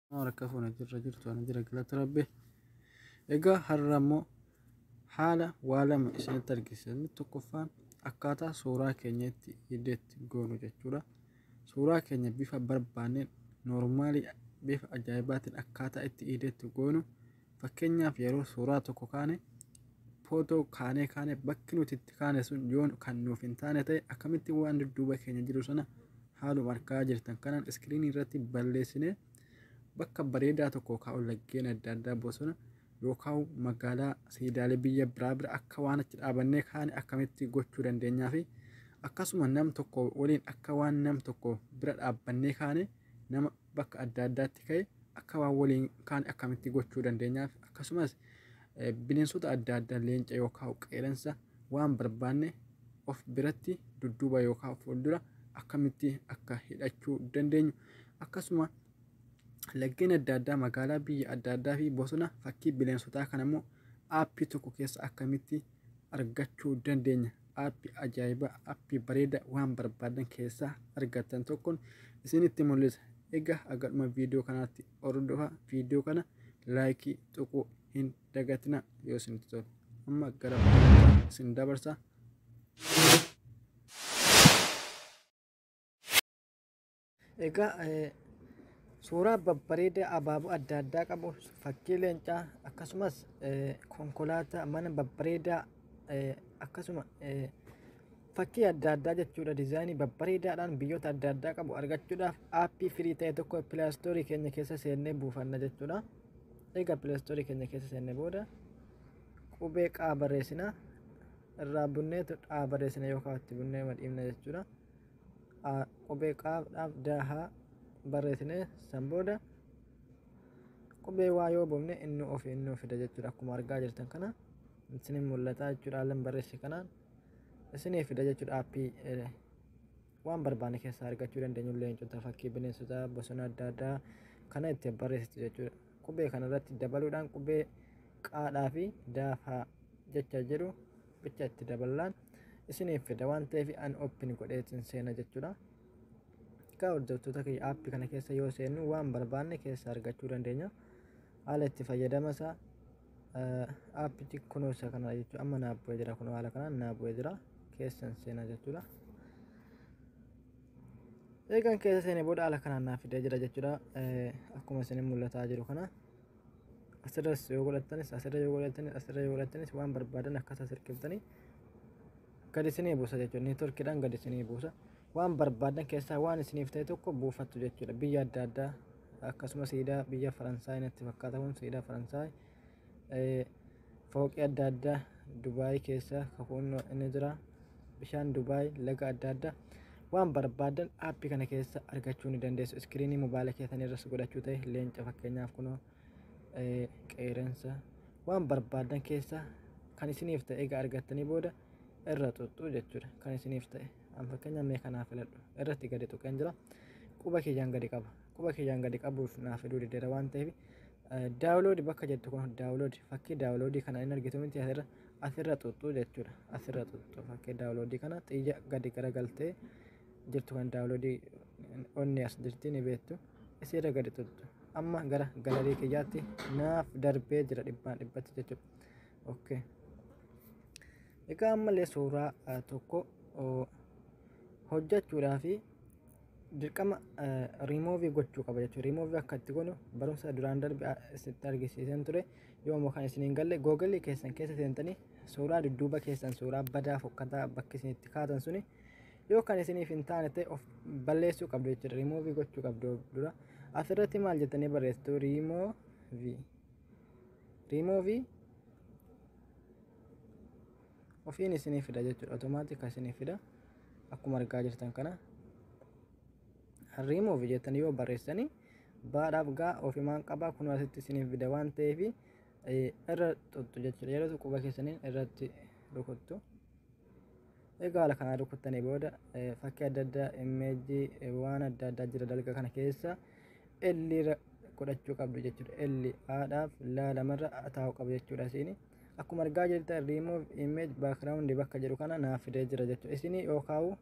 Harka fuuna jirra jirtu ana jira galata rabbi. Egaa har'a immoo haala waa lama isinitti argisiisa. Inni tokkoffaan akkaataa suuraa keenya itti hiddeetti goonu jechuudha. Suuraa keenya bifa barbaanneen noormaalii bifa ajaa'ibaatiin akkaataa itti hiddeetti goonu Fakkeenyaaf yeroo suuraa tokko kaane footoo kaanee kaanee bakki nuti itti kaane sun yoo kan nuuf hin taane ta'e akkamitti waan dudduuba keenya jiru sana haaluma argaa jirtan kanaan iskiriinii irratti balleessinee bakka bareedaa tokko kaa'u laggeen adda addaa bosona yookaan magaalaa siidaalee biyya biraa bira akka waan achi dhaabannee kaane akkamitti gochuu dandeenyaa fi akkasuma nam tokko waliin akka waan nam tokko bira dhaabbannee kaane nama bakka adda addaatti ka'e akka waan waliin kaane akkamitti gochuu dandeenyaaf akkasumas bineensota adda addaa leenca yookaan qeeransa waan barbaanne of biratti dudduuba yookaan fuuldura akkamitti akka hidhachuu dandeenyu akkasuma laggeen adda addaa magaalaa biyya adda addaa fi bosona fakkii bineensotaa kanammoo aappii tokko keessa akkamitti argachuu dandeenya. App ajaa'iba app bareeda waan barbaadan keessaa argattan tokkon isinitti mul'isa. Egaa agadhuma viidiyoo kanaatti hordofa viidiyoo kana laayikii tuquu hin dagatina yoo isinitti tole. Amma gara barumsaa isin dabarsa. Egaa suuraa babbareedaa abaaboo adda addaa qabu fakkii leencaa akkasumas konkolaataa mana babbareedaa akkasuma fakkii adda addaa jechuudha dizaayinii babbareedaadhaan biyyoota adda addaa qabu argachuudhaaf aappii firii ta'e tokko pilaastoorii keenya keessa seennee buufanna jechuudha. Egaa pilaastoorii keenya keessa seennee booda qubee qaa barreessina irraa bunneetu dhaa barreessina yookaan itti bunnee madhiifna jechuudha. qubee qaaf dhaaf daahaa barreessinee san booda qubee waa yoo buufne inni ofi inni ofida jechuudha akkuma argaa jirtan kana isinin mul'ata jechuudha haallan barreesse kanaan isinii fida jechuudha aappii waan barbaanne keessaa argachuu dandeenyu leencota fakkii bineensota bosona adda addaa kana itti barreessitu jechuudha qubee kanarratti dabaluudhaan qubee qaadhaa fi daafaa jecha jedhu bicha itti daballaan isiniif fida waan ta'eef an open godhee isin seena jechuudha. Egaa hordoftoota kiyya aappi kana keessa yoo seennu waan barbaanne keessa argachuu dandeenya. Haala itti fayyadama isaa aappichi kunuunsa kana jechuudha. Amma naa bu'ee jira kun haala kanaan naa bu'ee jira keessan seena jechuudha. Eegan keessa seene booda haala kanaan naa fidee jira jechuudha. Akkuma isin mul'ataa jiru kana. asirras yoo godhattanis asirra yoo godhattanis asirra yoo godhattanis waan barbaadan akkasa sirkiftanii gadi isinii buusa jechuudha neetworkiidhaan gadi isinii buusa waan barbaadan keessaa waan isiniif ta'e tokko buufattu jechuudha biyya adda addaa akkasumas siidaa biyya faransaay natti fakkaata kun siidaa faransaay Fooqii adda addaa Dubaay keessa kakuun inni jira. Bishaan Dubaay laga adda addaa waan barbaadan aappii kana keessa argachuu ni dandeessu. Iskiriinii mobaayila keessan irras godhachuu ta'e leenca fakkeenyaaf kunoo qeerensa waan barbaadan keessa kan isiniif ta'e egaa argattanii booda irra xuxxuu jechuudha. Kan isiniif ta'e an fakkeenyaaf mee kanaaf filadhu irratti gadi tuqeen jira. Quba kiyyaan gadi qaba. quba kiyyaan gadi qabuuf naa fiduu dideera waan ta'eef daawuloodi bakka jettu kun daawuloodi fakkii daawuloodii kana hin argitu miti asirra asirra xuxxuu jechuudha asirra xuxxuu fakkii daawuloodii kana xiyya gadi garagaltee jirtu kan daawuloodii onni as jirti ni beektu isirra gadi xuxxu amma gara galarii kiyyaatti naaf darbee jira dhibbaan dhibbatti jechuudha okay egaa ammallee suuraa tokko hojjechuudhaa fi dirqama remove gochuu qaba jechuudha. Remove akka itti godhu barumsa duraan darbe isinitti argisiiseen ture. Yoo immoo kan isin hin galle googalii keessan keessa seentanii suuraa dudduuba keessan suuraa badaa fokkataa bakki isin itti kaatan suni yoo kan isiniif hin taane ta'e of balleessuu qabdu jechuudha. Remove gochuu qabdu dura. Asirratti maal jettanii barreessitu remove remove Ofiin isinii fida jechuudha. Automaatika isinii fida. Akkuma argaa jirtan kana remove jettanii yoo barreessanii baadhaaf gaa ofimaan qabaa kun asitti isiniif fida waan ta'eef irra tuttu jechuudha. Yeroo quba keessaniin irratti rukuttu. Egaa haala kanaan rukuttanii booda fakkii adda addaa immeejii waan adda addaa jira dalga kana keessa elliirra godhachuu qabdu jechuudha. Elli haadhaaf laalamarra taa'u qabu jechuudha isiini. Akkuma argaa jirtan remove image background bakka jedhu kana naaf fidee jira jechuudha. Isin yookaan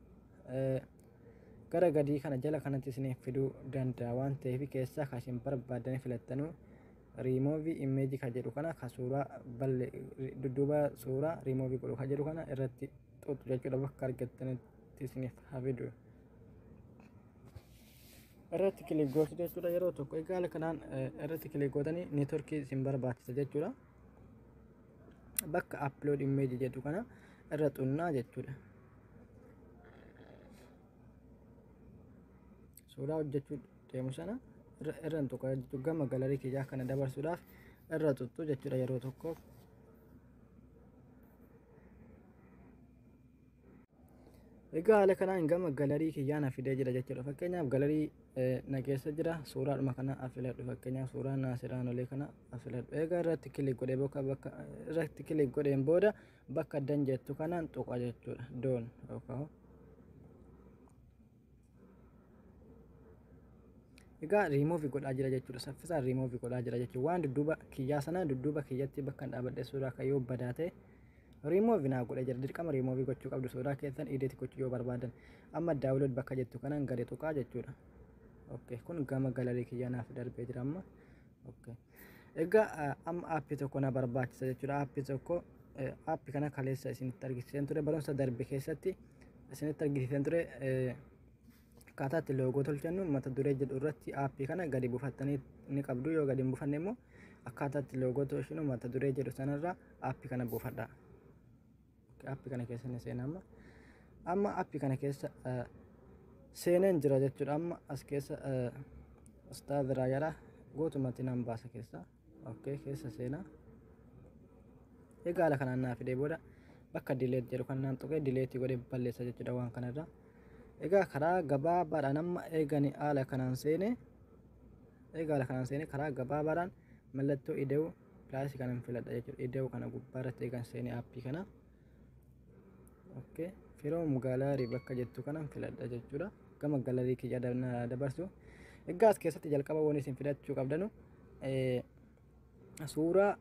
gara gadii kana jala kanatti isiniif fiduu danda'a waan ta'eef keessaa kan isin barbaadan filattanu remove image kan jedhu kana kan suuraa balle dudduuba suuraa remove godhu kan jedhu kana irratti xuxu jechuudha bakka argattanitti isiniif hafidu. Irratti kilik gootu jechuudha yeroo tokko egaa kanaan irratti kilik gootanii neetworkii isin barbaachisa jechuudha. bakka upload image jedhu kana irra xunnaa jechuudha suuraa hojjechuu deemu sana irra tuqa jechuudha gama galarii kiyyaa kana dabarsuudhaaf irra tuttu jechuudha yeroo tokkoof Egaa haala kanaan gama galarii kiyyaa na fidee jira jechuudha. Fakkeenyaaf galarii na keessa jira. Suuraadhuma kana afiladhu fakkeenyaaf suuraa naasiraan olee kana afiladhu. Egaa irratti kilik godhee bakka bakka irratti kilik godheen booda bakka dan jettu kanaan tuqa jechuudha. Doon yookaan Egaa riimoovi godhaa jira jechuudha. Saffisaan riimoovi godhaa jira jechuudha. Waan dudduuba kiyyaa sana dudduuba kiyyatti bakka dhaabadhe suuraa akka yoo badaa ta'e riimoovi naa godhee jira. Dirqama riimoovi gochuu qabdu suuraa keessan idiit gochuu yoo barbaadan. Amma daawulood bakka jettu kanaan gadi tuqaa jechuudha. Okay. Kun gama galarii kiyyaa naaf darbee jira amma. Okay. Egaa eh, amma aappii tokko na barbaachisa jechuudha. Aappii tokko eh, aappii kana kaleessa isinitti argisiiseen ture barumsa darbe keessatti isinitti argisiiseen ture eh, akkaataa itti loogoo tolchannu mata duree jedhu irratti aappii kana gadi buufattanii ni qabdu yoo gadi hin buufanne immoo akkaataa itti loogoo tolchinu mata duree jedhu sanarra aappii kana buufadha. Appi kana keessa ni seena amma. Amma appi kana keessa seeneen jira jechuudha amma as keessa staa biraa jala guutumatti nan baasa keessa. Okkee keessa seenaa. Egaa haala kanaan naa fidee booda bakka dileet jedhu kan naan tuqee dileetii godhee balleessa jechuudha waan kanarraa. Egaa karaa gabaabaadhaan amma eegani haala kanaan seenee egaa haala kanaan seenee karaa gabaabaadhaan mallattoo ida'uu Plus kanan filadha jechuudha. Ida'u kana gubbaa irratti eegan seenee aappii kana. Okay. Firoom galaarii bakka jettu kanan filadha jechuudha. Gama galarii kiyya dabarsu. Egaa as keessatti jalqaba waan isin filachuu qabdanu suuraa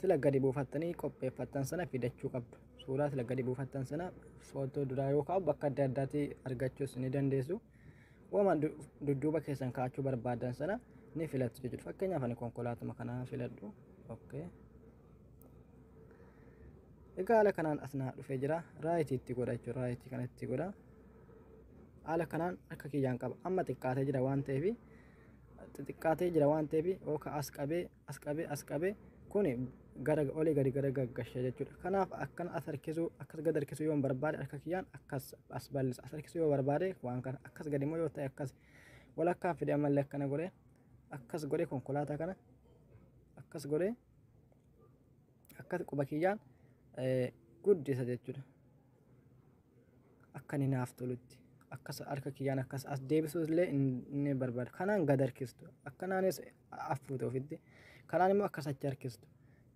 sila gadi buufattanii qopheeffattan sana fidachuu qabdu. Suuraa sila gadi buufattan sana footoo duraa yoo kaa'u bakka adda addaatti argachuus ni dandeessu. Wama dudduuba keessan kaa'achuu barbaadan sana ni filattu jechuudha. Fakkeenyaaf ani konkolaatuma kanaa filadhu. Okay. Egaa haala kanaan as naa dhufee jira. Raayitii itti godha jechuudha. Raayitii kana itti godha. Haala kanaan akka kiyyaan qaba. Amma xiqqaatee jira waan ta'eef xixiqqaatee jira waan ta'eef yookaan as qabee as qabe as qabe kuni gara olii gadi gara gaggashe jechuudha kanaaf akkana as harkisuu akkas gad harkisuu yoon barbaade harka kiyyaan akkas as bal'isa as harkisuu yoo barbaade waan kana akkas gadi immoo yoo ta'e akkas walakkaan fide ammallee akkana godhe akkas godhe konkolaataa kana akkas godhe akkas quba kiyyaan guddisa jechuudha. akka inni naaf tolutti akkas harka kiyyaan akkas as deebisuu illee inni barbaada. Kanaan gad harkistu. Akkanaanis affuute ofitti. Kanaan immoo akkas achi harkistu.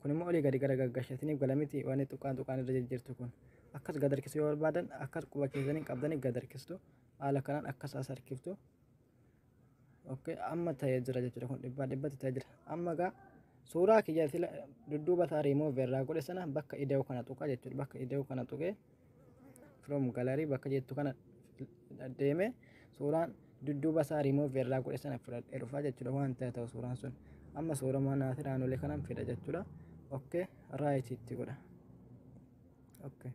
Kun immoo olii gadi gara gaggashatiniif gala miti waan tuqaan tuqaan irra jijjiirtu kun. Akkas gad harkisuu yoo barbaadan akkas quba keessaniin qabdanii gad harkistu. Haala kanaan akkas as harkiftu. okay amma ta'ee jira jechuudha kun dhibbaa dhibbatti ta'ee jira amma egaa suuraa kiyya sila dudduuba isaa remove irraa godhe sana bakka ida'u kana tuqa jechuudha bakka ida'u kana tuqee from gallery bakka jettu kana deeme suuraan dudduuba isaa remove irraa godhe sana fudhadhee dhufa jechuudha waan ta'e ta'u suuraan sun amma suuraa manaa fi naannolee kanan fida jechuudha okay right itti godha okay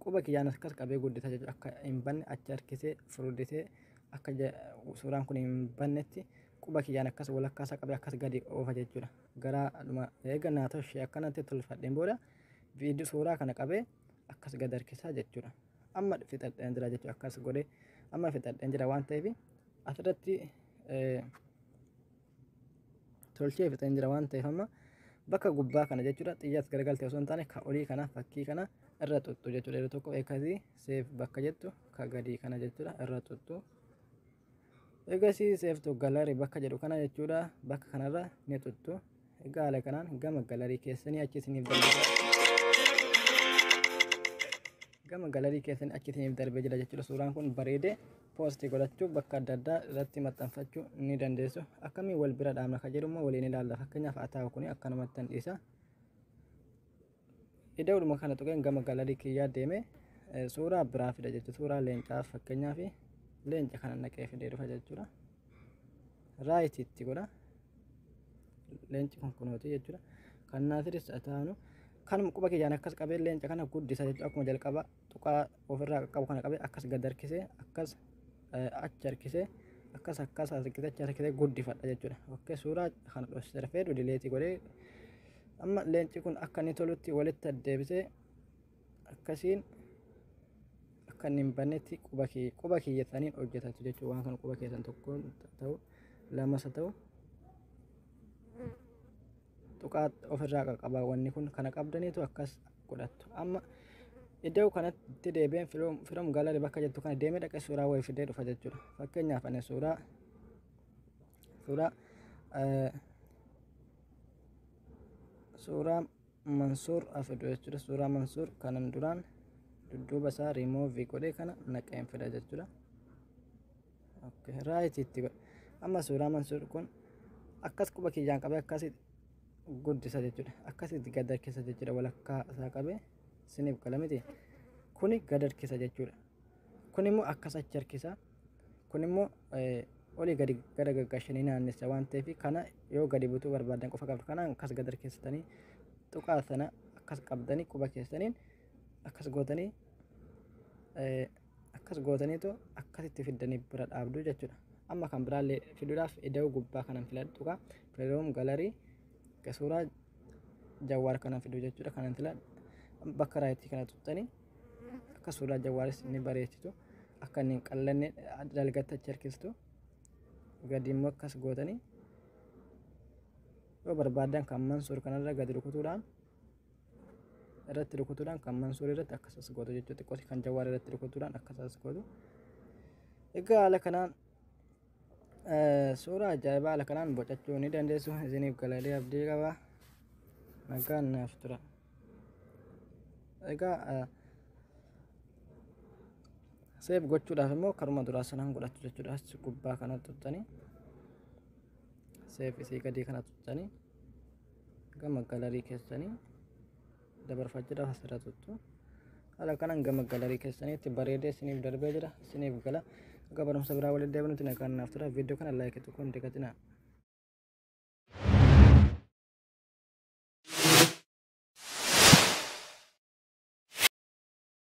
quba kiyyaan akkas qabee guddisa jechuudha akka hin banne achi harkisee furdisee akka suuraan kun hin bannetti quba kiyyaan akkas walakkaa isaa qabee akkas gadi oofa jechuudha. Gara dhuma eega naa tolchee akkanatti tolfadheen booda viidiyoo suuraa kana qabee akkas gad harkisaa jechuudha. Amma fixadheen jira jechuudha akkas godhee amma fixadheen jira waan ta'eef asirratti tolchee fixeen jira waan ta'eef amma bakka gubbaa kana jechuudha xiyyaas garagalte osoo hin taane ka olii kana fakkii kana irra xuxxu jechuudha yeroo tokko eegasii seef bakka jettu ka gadii kana jechuudha irra xuxxu eegasii seeftu galarii bakka jedhu kana jechuudha bakka kanarra ni xuxxu egaa haala kanaan gama galarii keessanii achi isiniif darbee gama galarii keessanii achi isiniif darbee jira jechuudha suuraan kun bareedee poosti godhachuu bakka adda addaa irratti maxxanfachuu ni dandeessu akkamiin wal bira dhaabna kan jedhu immoo waliin ilaalla fakkeenyaaf ataa'u kun akkanumatti hin dhiisa ida'uudhuma kana tuqeen gama galarii kiyyaa deeme suuraa biraa fida jechuudha suuraa leencaa fakkeenyaaf leenca kana naqee fidee dhufa jechuudha raayiti itti godha leenci kun kunooti jechuudha kan naatiris ataa'anu kanuma quba kiyyaan akkas qabee leenca kana guddisa jechuudha akkuma jalqaba tuqaa ofirraa qaqqabu kana qabe akkas gad harkisee akkas achi harkisee akkas akkas harkisee achi harkisee guddifadha jechuudha. Okkee suuraa kana dhoksee rafee dudileetii godhee amma leenci kun akka inni tolutti walitti addeebisee akkasiin akka inni hin bannetti quba kee quba keeyyataniin hojjetatu jechuudha waan kana quba keessan tokkoon ta'u lamas ta'u. tuqaa ofirraa qaqqabaa wanni kun kana qabdaniitu akkas godhattu amma iddoo kanatti deebi'een firom galari bakka jettu kana deemee dhaqee suuraa wayii fidee dhufa jechuudha fakkeenyaaf ani suuraa suuraa suuraa mansuur afidu jechuudha suuraa mansuur kanan duraan dudduuba isaa riimoovii godhee kana naqeen fida jechuudha Okay, right itti godhe. Amma suuraa Mansuur kun akkas quba kiyyaan qabee akkasi guddisa jechuudha. Akkasitti gad harkisa jechuudha walakkaa isaa qabee isiniif gala miti. Kuni gad harkisa jechuudha. Kun immoo akkas achi harkisa. Kun immoo olii gadi gara gaggashanii naannessa waan ta'eef kana yoo gadi butuu barbaadan qofa qabdu kanaan akkas gad harkistanii tuqaa sana akkas qabdanii quba keessaniin akkas gootanii Akkas gootaniitu akkasitti fiddanii bira dhaabdu jechuudha. Amma kan biraallee fiduudhaaf ida'uu gubbaa kanan filadhu tuqa. Playroom gallery ga suuraa jawwaar kanan fidu jechuudha kanan filadhu. Bakka raayitii kana tuqxanii akka suuraa jawwaaris ni bareechitu. Akka inni hin qallanne dalgatta achi harkistu. Gadi immoo akkas gootanii yoo barbaadan kan mansuur kanarra gadi rukutuudhaan irratti rukutuudhaan kan mansuur irratti akkas as gootu jechuudha xiqqooti kan jawaar irratti rukutuudhaan akkas as gootu egaa haala kanaan suuraa ajaa'ibaa haala kanaan bocachuu ni dandeessu isiniif galalee abdii qaba nagaan naaf tura egaa seef gochuudhaaf immoo karuma duraa sanaan godhatu jechuudha as gubbaa kana tuttanii seef isii gadii kana tuttanii gama galarii keessanii dabarfaa jira asirra tuttu haala kanaan gama galarii keessaniitti bareedee isiniif darbee jira isiniif gala akka barumsa biraa waliin deebinutti nagaan naaf tura viidiyoo kana laayikii tokko hin dagatinaa